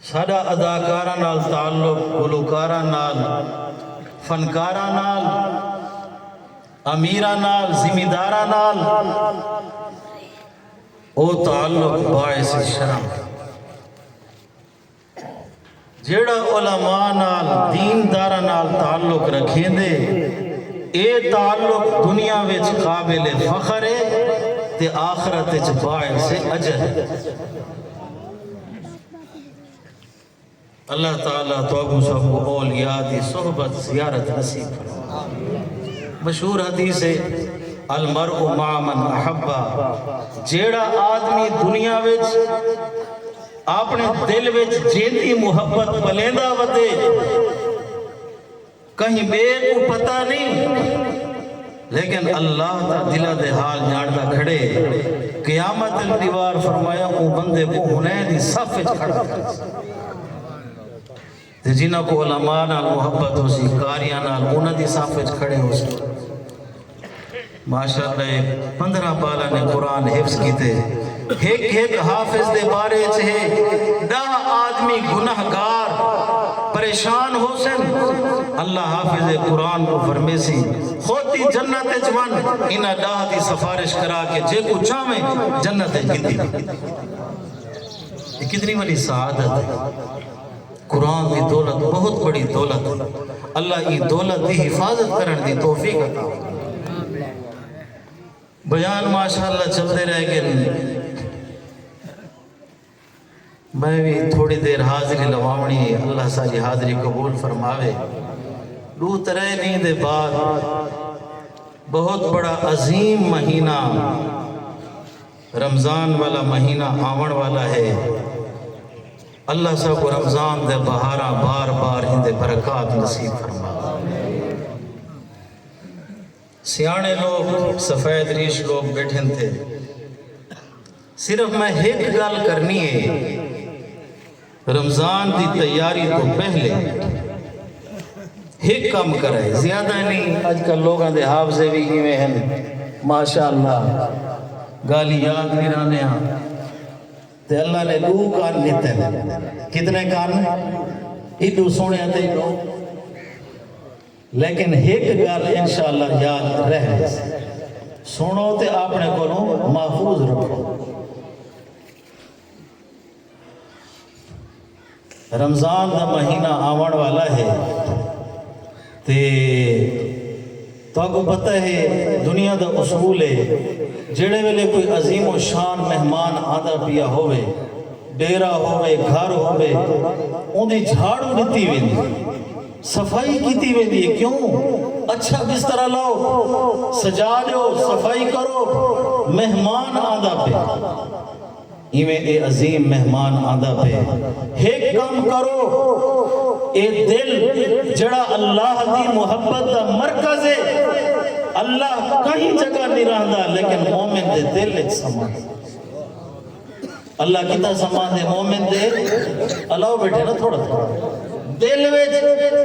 ساڈا اداکاراں نال تعلق گلوکاراں نال، فنکاراں نال، امیراں نال، زمینداراں نال او تعلق باعث شرم ہے جیڑھا علماء نال، دین داراں نال تعلق رکھیندے اے تعلق دنیا وچ قابل فخر ہے تے آخرت وچ باعث اجر ہے۔ اللہ تعالی تہاکوں سبھو اولیاء دی صحبت زیارت نصیب فرمائے مشہور حدیث ہے المرء مع من احبا جیڑا آدمی دنیا وچ اپنے دل وچ جیندی محبت پلیندا ودے کہیں ٻئے کوں پتہ نئیں لیکن اللہ تاں دلاں دے حال ڄاݨدا کھڑے، قیامت اچ ݙیوار فرمایا اوں بندے کوں حنین دی صف اچ کھڑا کریسی تے جنہاں کوں علماء نال محبت ہوسی، قاریاں نال انہاں دی صف اچ کھڑے ہوسن۔ معاشرت دے پندرہ ٻالاں نے قرآن حفظ کیتے۔ ہک ہک حافظ دے بارے اچ ہے ݙاہ آدمی گناہ گار پریشان ہوسن۔ اللہ حافظ قرآن کوں فرمیسی خوتی جنت اچ ونڄ انہاں ݙاہ دی سفارش کرا کے جیکوں چاہویں جنت اچ گھدی ݙے۔ اے کتنی وݙی سعادت ہے۔ قرآن دی دولت بہت بڑی دولت ہے اللہ ایں دولت دی حفاظت کرن دی توفیق عطا فرمائے بیان ماشاءاللہ چلدے رہ گن میں وی تھوڑی دیر حاضری لواونی ہے اللہ ساری حاضری قبول فرماوے دو ترے دین دے بعد بہت بڑا عظیم مہینہ رمضان والا مہینہ آوݨ والا ہے اللہ ساکوں رمضان دے بہاراں بار بار ایندے برکات نصیب فرماوے سیاݨے لوک سفید ریش لوک بیٹھن تھے صرف میں ہک گل کرنی ہے رمضان دی تیاری توں پہلے ہک کم کرے زیادہ نی اج کل لوگاں دے حافظے وی ایویں ہن ماشاءاللہ گالھیں یاد وی رہندے ہاں تے اللہ نے ڈو کن ڈتے نے کتنے کن ایڈو سونے تے ایڈو لیکن ہک گل انشاءاللہ یاد رہ ویسی سنو تے اپنے کولوں محفوظ رکھو رمضان دا مہینہ آوݨ والا ہے تے تہاکوں پتہ ہے دنیا دا اصول ہے جیڑھے ویلے کوئی عظیم و شان مہمان آندا پیا ہووے ڈیرہ ہووے گھر ہووے اوندی جھاڑو ڈتی ویندی صفائی کیتی ویندی ہے کیوں اچھا بسترا لاؤ سجا ڈیو صفائی کرو مہمان آندا پیا۔ ایویں اے عظیم مہمان آندا پئے۔ ہک کم کرو اے دل جیڑھا اللہ دی محبت دا مرکز اے، اللہ کہیں جگہ نی رہندا لیکن مومن دے دل اچ سما ہے۔ اللہ کتھاں سماندے مومن دے الاؤ بیٹھے نا تھوڑا تھوڑا دل وچ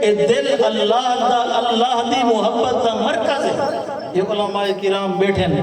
اے دل اللہ دا اللہ دی محبت دا مرکز اے۔ اے علماء کرام بیٹھے نا۔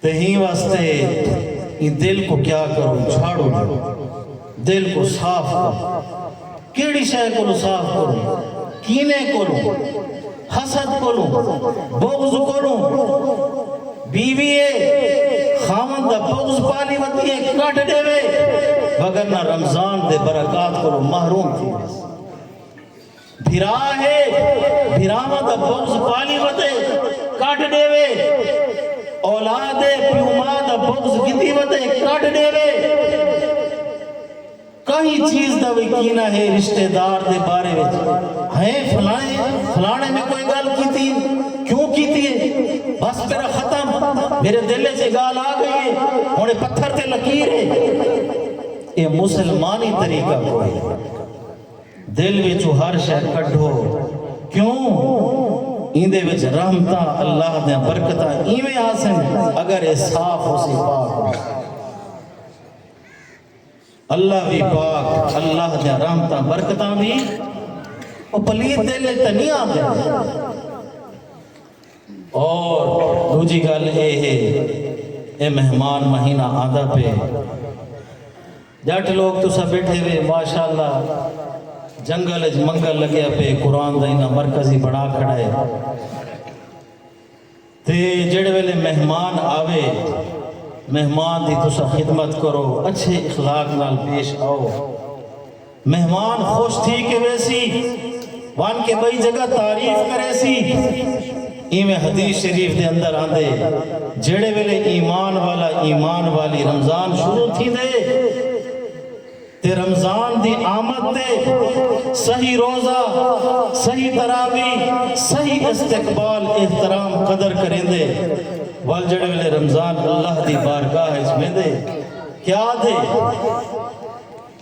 تے ہیں واسطے ایں دل کوں کیا کروں چھاڑو جو دل کوں صاف کروں کیڑی شے کولوں صاف کروں کینے کولوں حسد کولوں بغض کولوں بیوی اے خاوند دا بغض پالی ودی اے کڈھ ڈیوے وگرنہ رمضان دے برکات کولوں محروم تھی ویسی۔ بھرا ہے بھراواں دا بغض پالی وتے کڈھ ڈیوے اولاد ہے پیو ماء دا بغض گھدی وتے کڈھ ڈیوے کہیں چیز دا وی کینہ ہے رشتہ دار دے بارے وچ ہیں فلانے فلانے میں کوئی گل کیتی کیوں کیتی ہے بس میرا ختم میرے دل وچ گال آ گئی ہے ہن پتھر تے لکیر ہے اے مسلمانی طریقہ کوئی ہے دل وچوں ہر شے کڈھو کیوں ایندے وچ رحمتاں اللہ دیاں برکتاں ایویں آسن اگر اے صاف ہوسی پاک ہوسی اللہ وی پاک اللہ دیاں رحمتاں برکتاں وی او پلیت دل وچ تے نہیں آندے اور دوجی گل اے ہے اے مہمان مہینہ آندا پے جٹ لوک تساں بیٹھے وے ماشاءاللہ جنگل اچ منگل لگیا پئے قرآن دا انہاں مرکز ہی بنا کھڑا ہے تے جیڑھے ویلے مہمان آوے مہمان دی تساں خدمت کرو اچھے اخلاق نال پیش آؤ مہمان خوش تھی کے ویسی ون کے بئی جگہ تعریف کریسی ایویں حدیث شریف دے اندر آندے جیڑھے ویلے ایمان والا ایمان والی رمضان شروع تھیندے تے رمضان دی آمد تے صحیح روزہ صحیح تراوی صحیح استقبال احترام قدر کریندے ول جیڑھے ویلے رمضان اللہ دی بارگاہ اچ ویندے کیا دے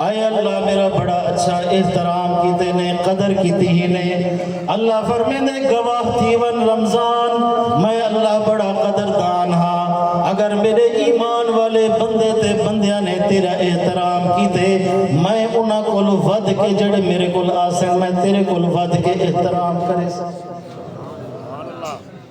اے اللہ میرا بڑا اچھا احترام کیتے نے قدر کیتی ہی نے اللہ فرمیندے گواہ تھیون رمضان میں اللہ بڑا قدردان ہا اگر میرے ایمان والے بندے تے بندیاں نے تیرا احترام کیتے میں انہاں کول ودھ کے جڑے میرے کول آسن میں تیرے کول ودھ کے احترام کرے سن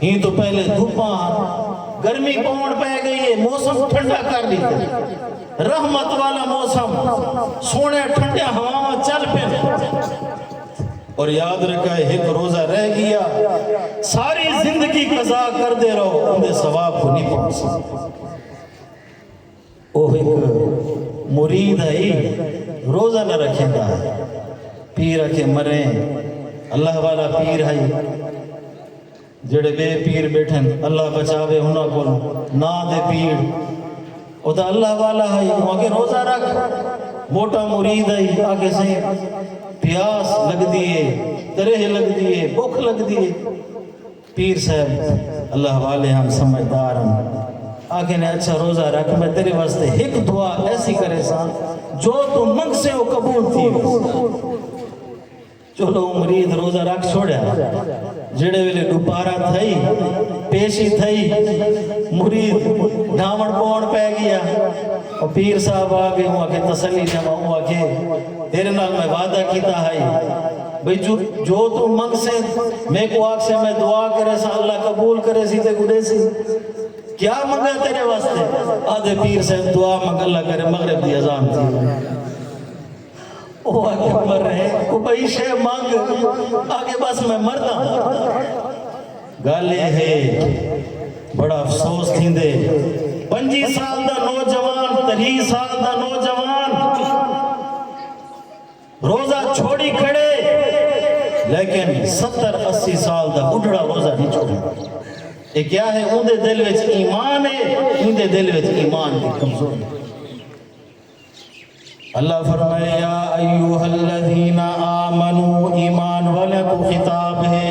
ایں توں پہلے دھپاں ہن گرمی پوݨ پئے گئی اے موسم ٹھنڈا کر ݙتے رحمت والا موسم سوہݨیاں ٹھنڈیاں ہواواں چل پن اور یاد رکھائے ہک روزہ رہ گیا ساری زندگی قضا کردے رہو اوندے ثواب کو نہیں پہنچ سکتے او ہک مرید ہئی روزہ نہ رکھیندا ہئی۔ پیر آکھے مریں اللہ والا پیر ہئی جیڑھے ٻئے پیر ٻیٹھن اللہ بچاوے انہاں کولوں ناں دے پیر او تاں اللہ والا ہئی او آکھے روزہ رکھ موٹا مرید ہئی آکھے سئیں پیاس لڳدی ہے تریہہ لڳدی ہے بکھ لڳدی ہے۔ پیر صاحب اللہ والے ہن سمجھدار ہن آکھے نے اچھا روزہ رکھ میں تیرے واسطے ہک دعا ایسی کرے سا جو تو منگ سے او قبول تھی چلو مرید روزہ رکھ چھوڑیا جڑے ویلے دوبارہ تھئی پیشی تھئی مرید گاون پون پہ گیا او پیر صاحب آگے ہوں آکھے تسلی جمع ہوں آکھے تیرے نال میں وعدہ کیتا ہائی بھئی جو توں منگسیں میکوں آکھسیں میں دعا کریساں اللہ قبول کریسی تیکوں ڈیسی کیا منگا تیرے واسطے آدھے پیر صاحب دعا منگ اللہ کرے مغرب دی اذان تھی وہ آگے مر رہے وہ بھئی شے مانگ آگے بس میں مرتا ہوں گالے ہے بڑا افسوس تھی دے پنجی سال دا نوجوان تری سال دا نوجوان روزہ چھوڑی کھڑے لیکن ستر اسی سال دا بڈھڑا روزہ نہیں چھوڑے اے کیا ہے اون دے دل وچ ایمان ہے اون دے دل وچ ایمان دی کمزوری اللہ فرمائے یا ایوہ الذین آمنو ایمان والے کو خطاب ہے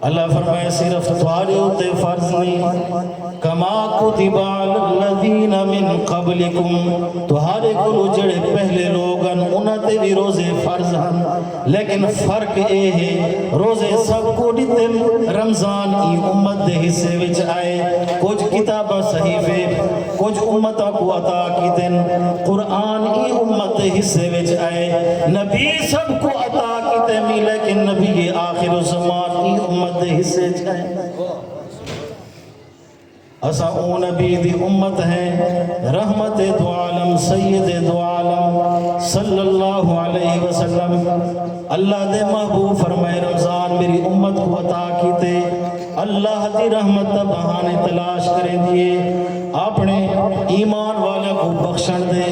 اللہ فرمائے صرف تھوڑے ہوتے فرض نہیں کما کتب علی الذین من قبلکم تو ہر ایک لو جڑے پہلے لوگ ہیں انہاں تے بھی روزے فرض ہیں لیکن فرق اے ہے روزے سب کو دیتے رمضان ای امت دے حصے وچ آئے کچھ کتابہ صحیفے کجھ امتاں کوں عطا کیتن قرآن ای امت دے حصے وچ اے نبی سب کوں عطا کیتے می لیکن نبی آخر الزمان ای امت دے حصے وچ اے اساں او نبی دی امت ہیں رحمت دو عالم سید دو عالم صلی اللہ علیہ وسلم اللہ دے محبوب فرمائے رمضان میری امت کو عطا کیتے اللہ دی رحمت دا بہانے تلاش کریندی ہے اپنے ایمان والیاں کو بخشن دے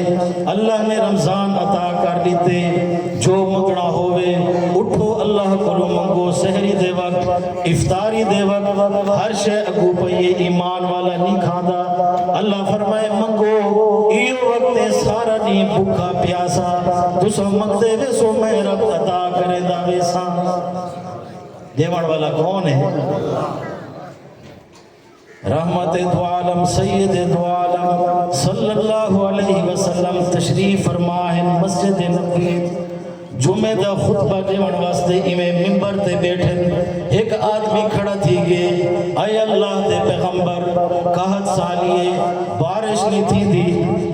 اللہ نے رمضان عطا کر دیتے جو مگنا ہوئے اٹھو اللہ کو منگو سہری دے وقت افطاری دے وقت ہر شے اگو پئیے ایمان والا نہیں کھاندا اللہ فرمائے منگو ایو وقت سارا نہیں بھوکا پیاسا تسا منگدے ویسو میں رب عطا کرے دا ویسا ڈیوݨ والا کون ہے رحمت دو عالم سید دو عالم صلی اللہ علیہ وسلم تشریف فرما ہے مسجد نبی جمعہ دا خطبہ دیون واسطے ایویں ممبر تے بیٹھے ایک آدمی کھڑا تھی گئے اے اللہ دے پیغمبر کہت سالیے بارش نہیں تھی دی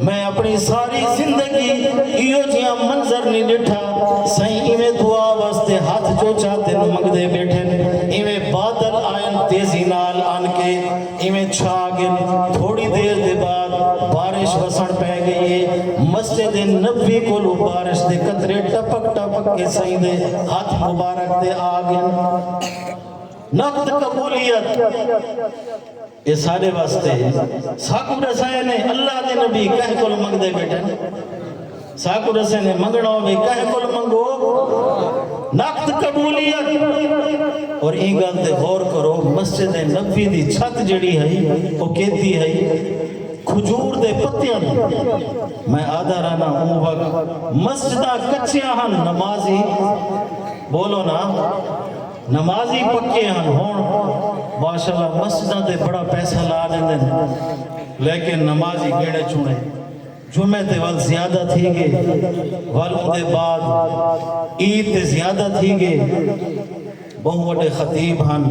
میں اپݨی ساری زندگی ایہو جیہاں منظر نی ݙٹھا سئیں ایویں دعا واسطے ہتھ جو چاہدن منگدے ٻیٹھن ایویں بادل آئن تیزی نال آن کے ایویں چھا گن تھوڑی دیر دے بعد بارش وسݨ پئے گئی اے مسجد نبوی کولوں بارش دے قطرے ٹپک ٹپک کے سئیں دے ہتھ مبارک تے آ گن نقد قبولیت اے ساڈے واسطے ساکوں ڈسائے نے اللہ دے نبی کہیں کول منگدے بیٹھن ساکوں ڈسے نے منگنا ہوے کہیں کول منگو نقد قبولیت اور این گل تے غور کرو مسجد نبی دی چھت جڑی ہئی او کیتی ہئی کھجور دے پتیاں دی میں آدھا رہنا اون وقت مسجداں کچیاں ہن نمازی بولو نا نمازی پکے ہن ہن ماشاءاللہ مسجداں تے بڑا پیسہ لا ڈیندن لیکن نمازی گیڑے چھوڑے جمعے تے ول زیادہ تھی گے ول اوندے بعد عید تے زیادہ تھی گے بہوں وڈے خطیب ہن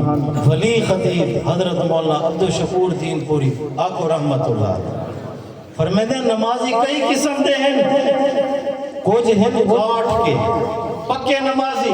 ولی خطیب حضرت مولانا عبدالشکور دین پوری آکو رحمت اللہ فرمیدے نمازی کئی قسم دے ہیں کچھ ہیں گاٹھ کے پکے نمازی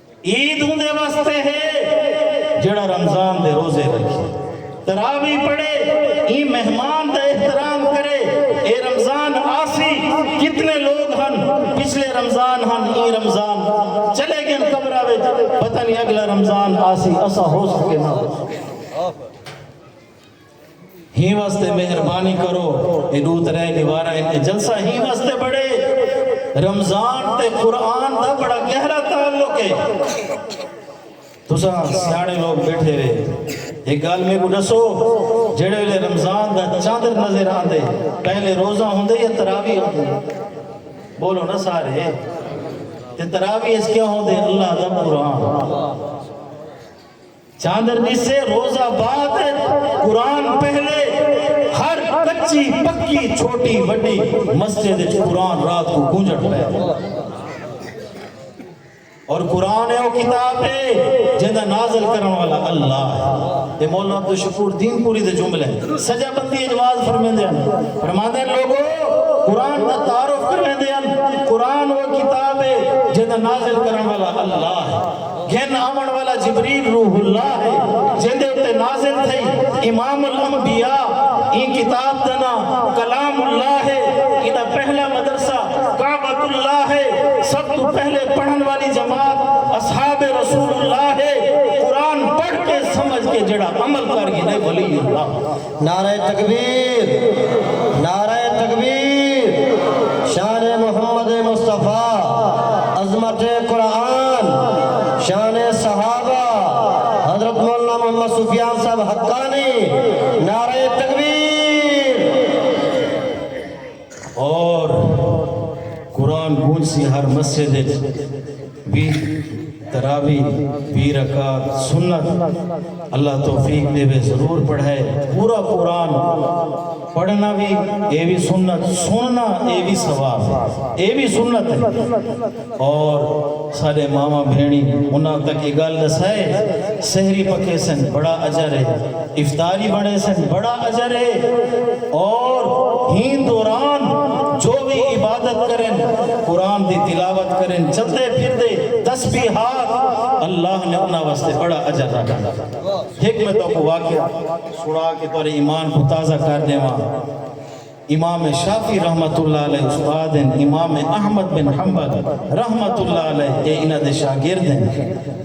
عید اوندے واسطے ہے جیڑھا رمضان دے روزے رکھے تراوی پڑھے ایں مہمان دا احترام کرے اے رمضان آسی کتنے لوگ ہن پچھلے رمضان ہن ایں رمضان چلے گن قبرہ وچ پتہ نہیں اگلا رمضان آسی اسا ہو سکے نہ ہو سکے ہی واسطے مہربانی کرو اے ڈو ترے دیواراں ہن اے جلسہ ہی واسطے بڑے رمضان تے قرآن دا بڑا گہرا تعلق ہے تساں سیاڑے لوگ بیٹھے وے ایک گال میں کو ڈسو جڑے لے رمضان دا چاندر نظر آن دے پہلے روزہ ہوں دے یا تراوی ہوں دے بولو نا سارے تے تراوی اس کیا ہوں دے اللہ دا قرآن چاندر ݙسے روز آباد اچ قرآن پہلے ہر کچی پکی چھوٹی وݙی مسجد اچ قرآن رات کوں گونجݨ پئے اور قرآن ہے او کتاب ہے جیندا نازل کرݨ والا اللہ ہے اے مولا عبدالشکور دین پوری دے جملے ہیں سجا بندی اچ واز فرمیندے ہن فرماندے ہن لوگو قرآن دا تعارف کرویندے ہن قرآن او کتاب ہے جیندا نازل کرݨ والا اللہ ہے گھن آوݨ والا جبریل روح اللہ ہے جیندے اتے نازل تھئی امام الانبیاء ایں کتاب دا ناں کلام اللہ ہے ایندا پہلا مدرسہ کعبۃ اللہ ہے سب توں پہلے پڑھن والی جماعت اصحاب رسول اللہ ہے قرآن پڑھ کے سمجھ کے جیڑھا عمل کر گھنے ولی اللہ نعرہ تکبیر نعرہ تکبیر شان محمد مصطفی عظمت قرآن شان صحابہ حضرت مولانا محمد سفیان صاحب حقانی نعرہ تکبیر اور قرآن گونج سی ہر مسجد اچ وی تراوی وی رکعت سنت اللہ توفیق دے وے ضرور پڑھائے پورا قرآن پڑھنا وی اے وی سنت سننا اے وی ثواب اے وی سنت اور ساڈے ماواں بھینڑی انہاں تک اے گالھ ڈسائے سحری پکے سن بڑا اجر اے افطاری بنڑے سن بڑا اجر اے اور ہین دوران جو وی عبادت کرن قرآن دی تلاوت کرن چلدے پھردے تسبیحات اللہ نے انہاں واسطے بڑا اجر رکھا ہک میں تہاکوں واقعہ سنڑا کے تہاڈے ایمان کوں تازہ کر ڈیواں۔ امام شافعی رحمت اللہ علیہ استاد ہن، امام احمد بن حنبل رحمت اللہ علیہ تے انہاں دے شاگرد ہن،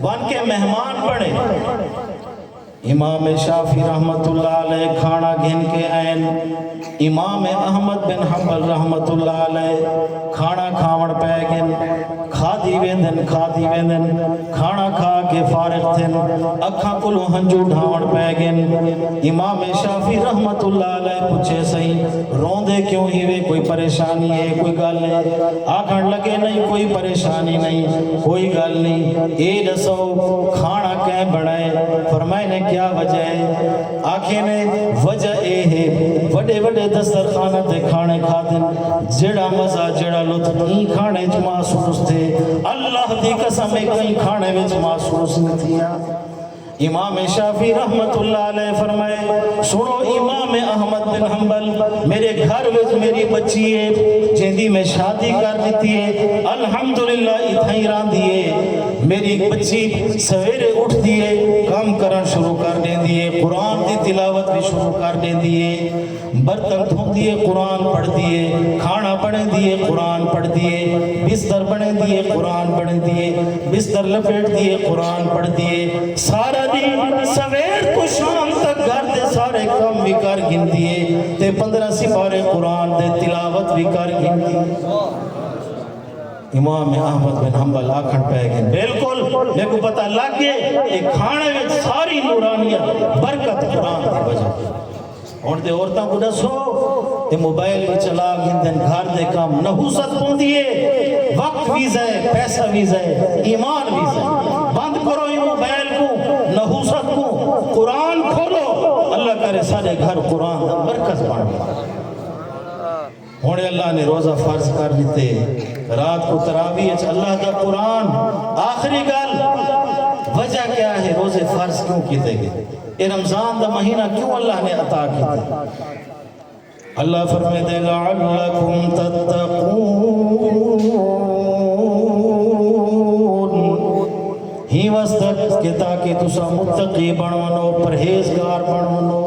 ون کے مہمان بنڑے۔ امام شافعی رحمت اللہ علیہ کھانڑا گھن کے ائین، امام احمد بن حنبل رحمت اللہ علیہ۔ کھانا کھاوݨ پئے ڳن۔ کھادی ویندن کھادی ویندن۔ کھانا کھا کے فارغ تھن۔ اکھاں کولوں ہنجو ڈھاوݨ پئے ڳن۔ امام شافعی رحمت اللہ علیہ پچھے سئیں روندے کیوں ہیوے کوئی پریشانی ہے کوئی گالھ ہے آکھݨ لگے نئیں کوئی پریشانی نئیں کوئی گالھ نئیں اے ڈسو کھانا کئیں بݨائے فرمائے نے کیا وجہ ہے آکھے نے وجہ اے ہے وڈے وڈے دسترخاناں تے کھانے کھادن جیڑھا مزہ جیڑھا لطف ایں کھانے وچ محسوس تھے اللہ دی قسم اے کہیں کھانے وچ محسوس نی تھیا۔ امام شافعی رحمت اللہ علیہ فرمائے سنو امام احمد بن حنبل میرے گھر وچ میری بچی اے جیندی میں شادی کر ڈتی اے الحمدللہ اتھائیں راندھی اے میݙی ٻچی سویرے اٹھدی ہے کم کرݨ شروع کر ݙیندی ہے قرآن دی تلاوت وی شروع کر ݙیندی ہے برتن دھوندی ہے قرآن پڑھدی ہے کھاݨا بݨیندی ہے قرآن پڑھدی ہے بستر بݨیندی ہے قرآن بݨیندی ہے بستر لپیٹدی ہے قرآن پڑھدی ہے سارا ݙینہ سویر توں شام تک گھر دے سارے کم وی کر گھندی ہے تے پندرہ سپارے قرآن دے تلاوت وی کر گھندی ہے امام احمد بن حنبل آکھن پئے گن بالکل میکوں پتہ لگ گئے اے کھانے وچ ساری نورانیت برکت قرآن دی وجہ ہن تے عورتاں کو ڈسو اے موبائل وی چلا گھندن گھر دے کم نحوست پوندی اے وقت وی ضائع پیسہ وی ضائع ایمان وی ضائع بند کرو اے موبائل کوں نحوست کوں قرآن کھولو اللہ کرے ساڈے گھر قرآن دا مرکز بن ونجے۔ ہن اللہ نے روزہ فرض کر ݙتے۔ رات کوں تراویح اچ اللہ دا قرآن۔ آخری گالھ وجہ کیا ہے روزے فرض کیوں کیتے گئے؟ ایہ رمضان دا مہینہ کیوں اللہ نے عطا کیتے؟ اللہ فرمیندے لعلکم تتقون ہیں واسطے کہ تاکہ تساں متقی بݨ ونو، پرہیزگار بݨ ونو۔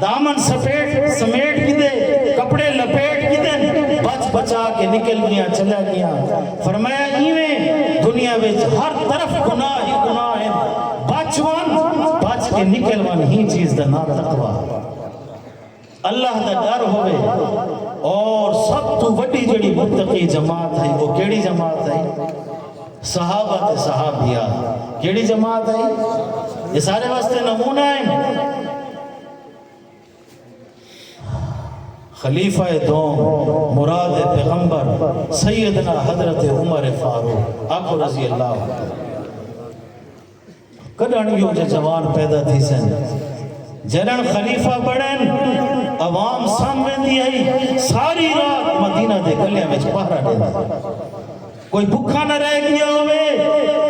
دامن سپیٹ سمیٹ گھدے کپڑے لپیٹ گھدن بچ بچا کے نکل گیاں چلا گیاں فرمایا ایویں دنیا وچ ہر طرف گناہ ہی گناہ ہیں بچ ون بچ کے نکل ون ہی چیز دا نام تقوی اللہ دا ڈر ہوئے اور سب تو وڈی جڑی منتقی جماعت ہے وہ کیڑی جماعت ہے صحابہ تے صحابیات کیڑی جماعت ہئی؟ اے سارے واسطے نمونہ ہن۔ خلیفہ دوم مراد پیغمبر سیدنا حضرت عمر فاروق آکھو رضی اللہ عنہ۔ کڈھنڑ یو جو جوان پیدا تھیسن جڈن خلیفہ بنڑن عوام سم ویندی ہئی ساری رات مدینہ دے گلیاں وچ پہرا ڈیندے کوئی بھکا نہ رہ گیا ہوئے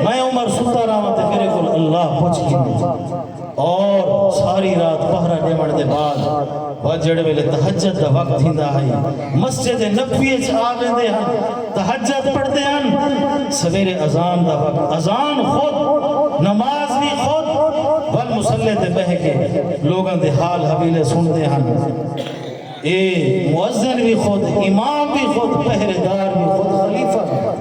میں عمر ستا رہا تے میرے کول اللہ پوچھ گھن اور ساری رات پہرا ڈیمن دے بعد و جیڑھے ویلے تہجد دا وقت تھیندا ہئی مسجد نبوی اچ آ ویندے ہن تہجد پڑھدے ہن سویرے اذان دا وقت اذان خود نماز وی خود ول مصلی تے بہہ کے لوگاں دے حال حویلے سنڑدے ہن اے مؤذن وی خود امام وی خود پہرے دار وی خود خلیفہ وی خود۔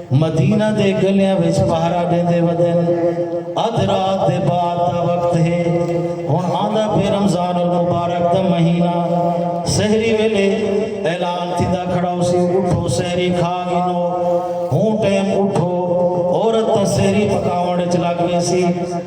مدینہ دے گلیاں وچ پہرا ڈیندے ودن۔ ادھ رات دے بعد دا وقت ہے۔ ہن آندا پئے رمضان المبارک دا مہینہ۔ سحری ویلے اعلان تھیندا کھڑا ہوسی اٹھو سحری کھا گھنو۔ ہوں ٹیم اٹھو۔ عورت تاں سحری پکاوݨ وچ لگ ویسی۔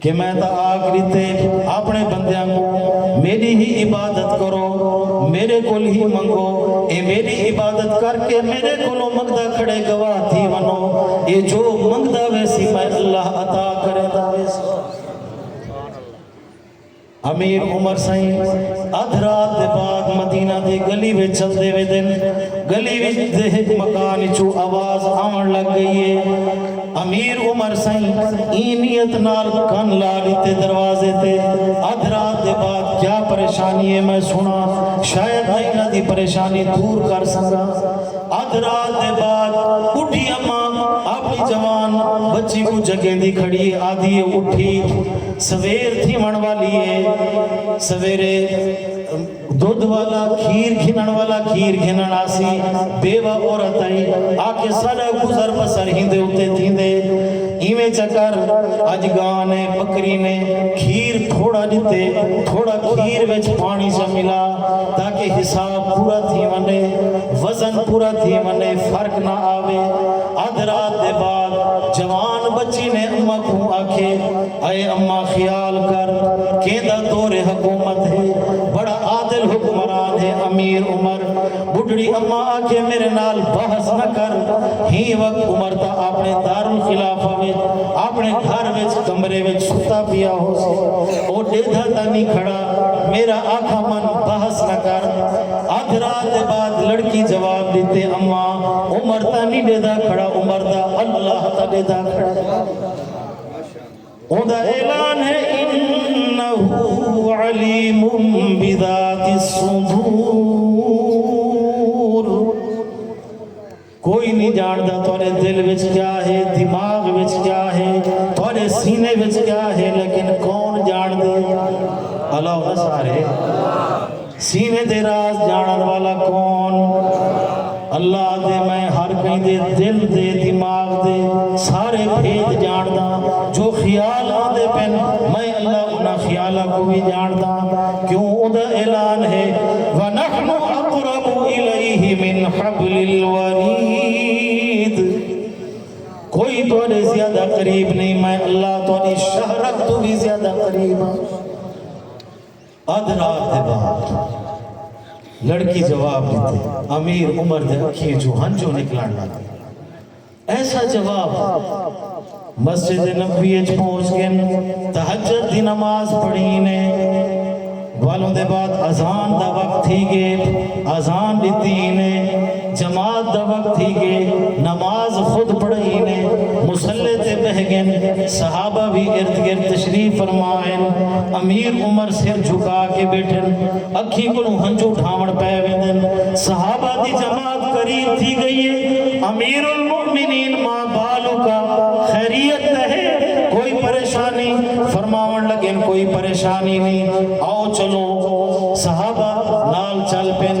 کہ میں تاں آکھ ݙتے آپݨے بندیاں کوں میݙی ہی عبادت کرو، میݙے کولھ ہی منگو، اے میݙی عبادت کر کے میݙے کولھوں منگدا کھڑے گواہ تھی ونو، اے جو منگدا ویسی میں اللہ عطا کریندا ویسوں۔ امیر عمر سئیں ادھ رات دے بعد مدینہ دی گلی وچ چلدے ویندن۔ گلی وچ دے ہک مکان اچوں آواز آوݨ لگ ڳئی اے۔ امیر عمر سئیں ایں نیت نال کن لا ݙتے دروازے تے ادھ رات دے بعد کیا پریشانی اے میں سݨاں شاید میں انہاں دی پریشانی دور کر سڳاں۔ ادھ رات دے بعد ٻڈھی اماں اپݨی جوان ٻچی کوں جڳیندی کھڑی اے آہدی اے اٹھی۔ سویر تھیوݨ والی اے سویرے دودھ والا کھیر گھنݨ والا کھیر گھنݨ آسی بیوہ عورت ائی آکھے ساڈا گزر بسر ہیندے اتے تھیندے ایویں چا کر اج گاں نے بکری نے کھیر تھوڑا ݙتے تھوڑا کھیر وچ پاݨی چا ملا تاکہ حساب پورا تھی ونڄے وزن پورا تھی ونڄے فرق نہ آوے ادھ رات دے بعد جوان بچی نے اماں کوں آکھے اے اماں خیال کر کیندا دور حکومت ہے بڑا عادل حکمران ہے امیر عمر بڈھڑی اماں آکھے میرے نال بحث نہ کر ہی وقت عمر تا اپنے دارالخلافہ وچ اپنے گھر وچ کمرے وچ ستا پیا ہو سی او ڈیدھا تا نی کھڑا میرا آکھا من بحث نہ کر ادھ رات دے بعد لڑکی جواب دیتے اماں عمر تا نی ڈیدھا کھڑا عمر دا اللہ تا ڈیدھا کھڑا ہے اوندہ اعلان ہے انہو علیم بذات الصدور کوئی نہیں جاندہ تورے دل وچ کیا ہے دماغ وچ کیا ہے تورے سینے وچ کیا ہے لیکن کون جاندہ اللہ و سارے سینے دے راز جانڑن والا کون؟ اللہ دے میں ہر کہیں دے دل دے دماغ دے سارے بھید جانڑداں جو خیال آندے پن میں اللہ انہاں خیالاں کوں وی جانڑداں کیوں اوندا اعلان ہے ونحن اقرب الیہ من حبل الورید کوئی تہاڈے زیادہ قریب نہیں میں اللہ تہاڈی شہرت توں وی زیادہ قریب ہاں ادھ رات دے بعد لڑکی جواب ڈتے۔ امیر عمر دے اکھیں چوں ہنجوں نکلن لگ گئے۔ ایسا جواب۔ مسجد نبوی اچ پہنچ گن تہجد دی نماز پڑھی نے۔ ول اوندے بعد اذان دا وقت تھی گے۔ اذان ڈتی نے۔ جماعت دا وقت تھی گے، نماز خود پڑھائی نے، مصلی تے بہہ گن، صحابہ وی ارد گرد تشریف فرما ہن، امیر عمر سر جھکا کے بیٹھن، اکھیں کنوں ہنجو ڈھاون پے ویندن، صحابہ دی جماعت قریب تھی گئی ہے، امیر المومنین ما بالک، خیریت تے ہے، کوئی پریشانی؟ فرماون لگن کوئی پریشانی نی، آؤ چلو، صحابہ نال چل پن۔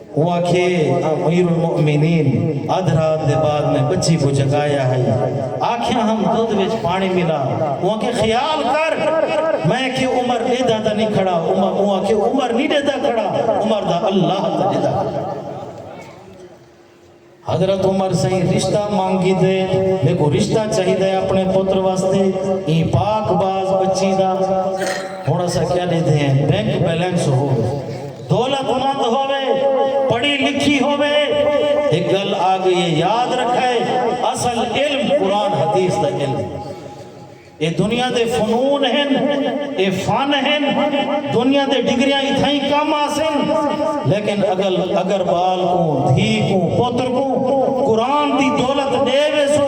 اوں آکھیے آں امیر المومنین ادھ رات دے بعد میں بچی کوں جگایا ہئی آکھیا ہم دودھ وچ پانی ملا اوں آکھے خیال کر میں آکھیے عمر ڈیدھا تاں نی کھڑا عمر اوں آکھیے عمر نی ڈیدھا کھڑا عمر دا اللہ تاں ڈیدھا کھڑا۔ حضرت عمر سئیں رشتہ منگ گھدے میکوں رشتہ چاہیدا ہے اپݨے پتر واسطے ایں پاک باز ٻچی دا ہݨ اساں کیا ݙیدھے ہیں بینک بیلنس ہووے دولت مند ہووے پڑھی لکھی ہووے ہک ڳل آ ڳئی ہے یاد رکھئے اصل علم قرآن حدیث دا علم ہے۔ اے دنیا دے فنون ہن، اے فن ہن، دنیا دے ڈگریاں اتھائیں کم آسن، لیکن اگل اگر بال کوں، دھی کوں، پتر کوں قرآن دی دولت ڈے ویسو،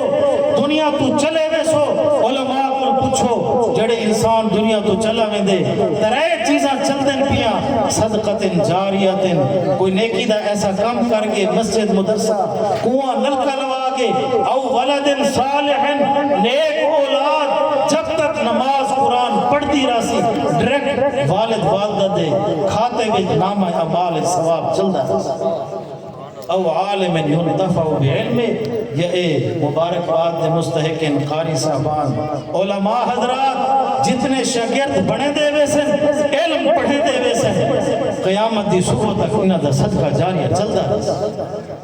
دنیا توں چلے ویسو، علماء کول پچھو جیڑھے انسان دنیا توں چلا ویندے، ترے چیزاں چلدن پیاں، صدقۃ جاریۃ، کوئی نیکی دا ایسا کم کر گئے، مسجد، مدرسہ، کنواں، نلکا، آگے او ولد صالح نیک اولاد جب تک نماز قرآن پڑھدی راسی ڈریکٹ والد والدہ دے کھاتے وچ نامہ اعمال ثواب چلدا راسی او عالم ينتفع بعلمه یا اے مبارک باد دے مستحقین قاری صاحبان علماء حضرات جتنے شاگرد بنے دے ویسن علم پڑھے دے ویسن قیامت دی صبح تک انہاں دا صدقہ جاریہ چلدا رہے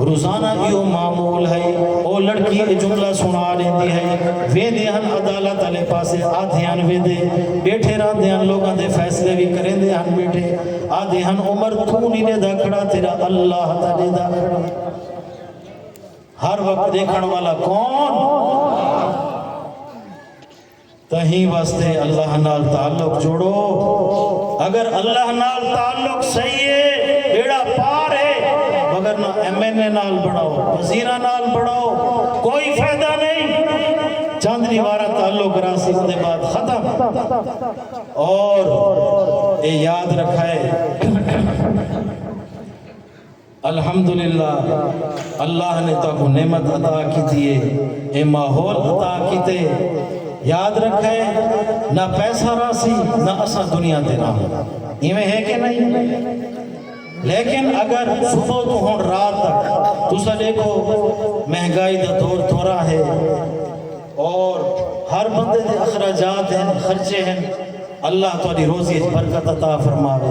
روزانہ ایہو معمول ہئی۔ او لڑکی اے جملہ سݨا ݙیندی ہئی۔ ویندے ہن عدالت آلے پاسے آدھے ہن ویندے۔ ٻیٹھے رہندے ہن لوکاں دے فیصلے وی کریندے ہن ٻیٹھے۔ آدھے ہن عمر توں نی ݙیہدا کھڑا تیݙا اللہ تاں ݙیہدا کھڑا ہے۔ ہر وقت ݙیکھݨ والا کون؟ تہیں واسطے اللہ نال تعلق جوڑو اگر اللہ نال تعلق صحیح ہے بیڑا پار ہے مگر نہ ایم این اے نال بڑھاؤ وزیرہ نال بڑھاؤ کوئی فائدہ نہیں چند دیوارہ تعلق راسی دے بعد ختم اور اے یاد رکھائے الحمدللہ اللہ نے تہاکوں نعمت عطا کیتی ہے اے ماحول عطا کیتے یاد رکھئے نہ پیسہ راہسی نہ اساں دنیا تے راہوں ایویں ہے کہ نئیں لیکن اگر صبح توں ہن رات تک تساں ڈیکھو مہنگائی دا دور تھوڑا ہے اور ہر بندے دے اخراجات ہن خرچے ہن اللہ تہاڈی روزی اچ برکت عطا فرماوے۔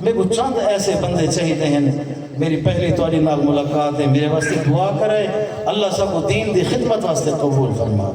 میکوں چند ایسے بندے چاہیدے ہن۔ میری پہلی تہاڈی نال ملاقات ہے۔ میرے واسطے دعا کرے۔ اللہ ساکوں دین دی خدمت واسطے قبول فرما۔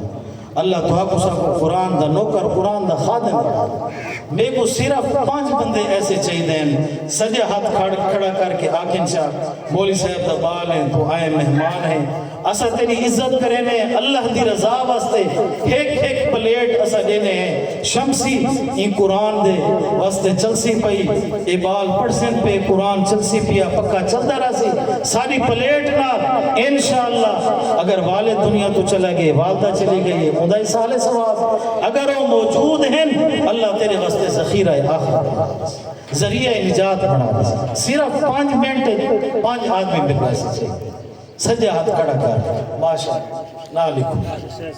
اللہ تہاکوں ساکوں قرآن دا نوکر، قرآن دا خادم بنا دے۔ میکوں صرف پنج بندے ایسے چاہیدے ہن۔ سجا ہتھ کھڑا کر کے آکھن چا، مولوی صاحب دا بال ہیں، توں آئے مہمان ہیں۔ اساں تیݙی عزت کریندے ہیں اللہ دی رضا واسطے ہک ہک پلیٹ اساں ݙیندے ہیں شمسی ایں قرآن دے واسطے چلسی پئی اے ٻال پڑھسن پئے قرآن چلسی پیا پکا چلدا رہسی ساݙی پلیٹ نال انشاءاللہ اگر والد دنیا توں چلے ڳئے والدہ چلی ڳئی ہے اوندا ایصال ثواب اگر او موجود ہن اللہ تیݙے واسطے ذخیرہ آخرت بݨا ݙیسی ذریعہ نجات بݨا ݙیسی صرف پنج منٹ اچ پنج آدمی مل ویسے چاہیدے سجا ہتھ کھڑا کر ماشاء اللہ ناں لکھو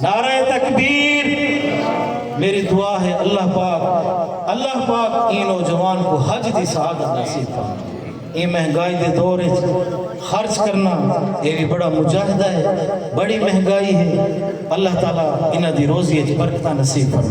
نعرہ تکبیر میری دعا ہے اللہ پاک اللہ پاک ایں نوجوان کو حج دی سعادت نصیب فرمائے اے مہنگائی دے دور وچ خرچ کرنا اے وی بڑا مجاہدہ ہے بڑی مہنگائی ہے اللہ تعالی انہاں دی روزی وچ برکتاں نصیب فرمائے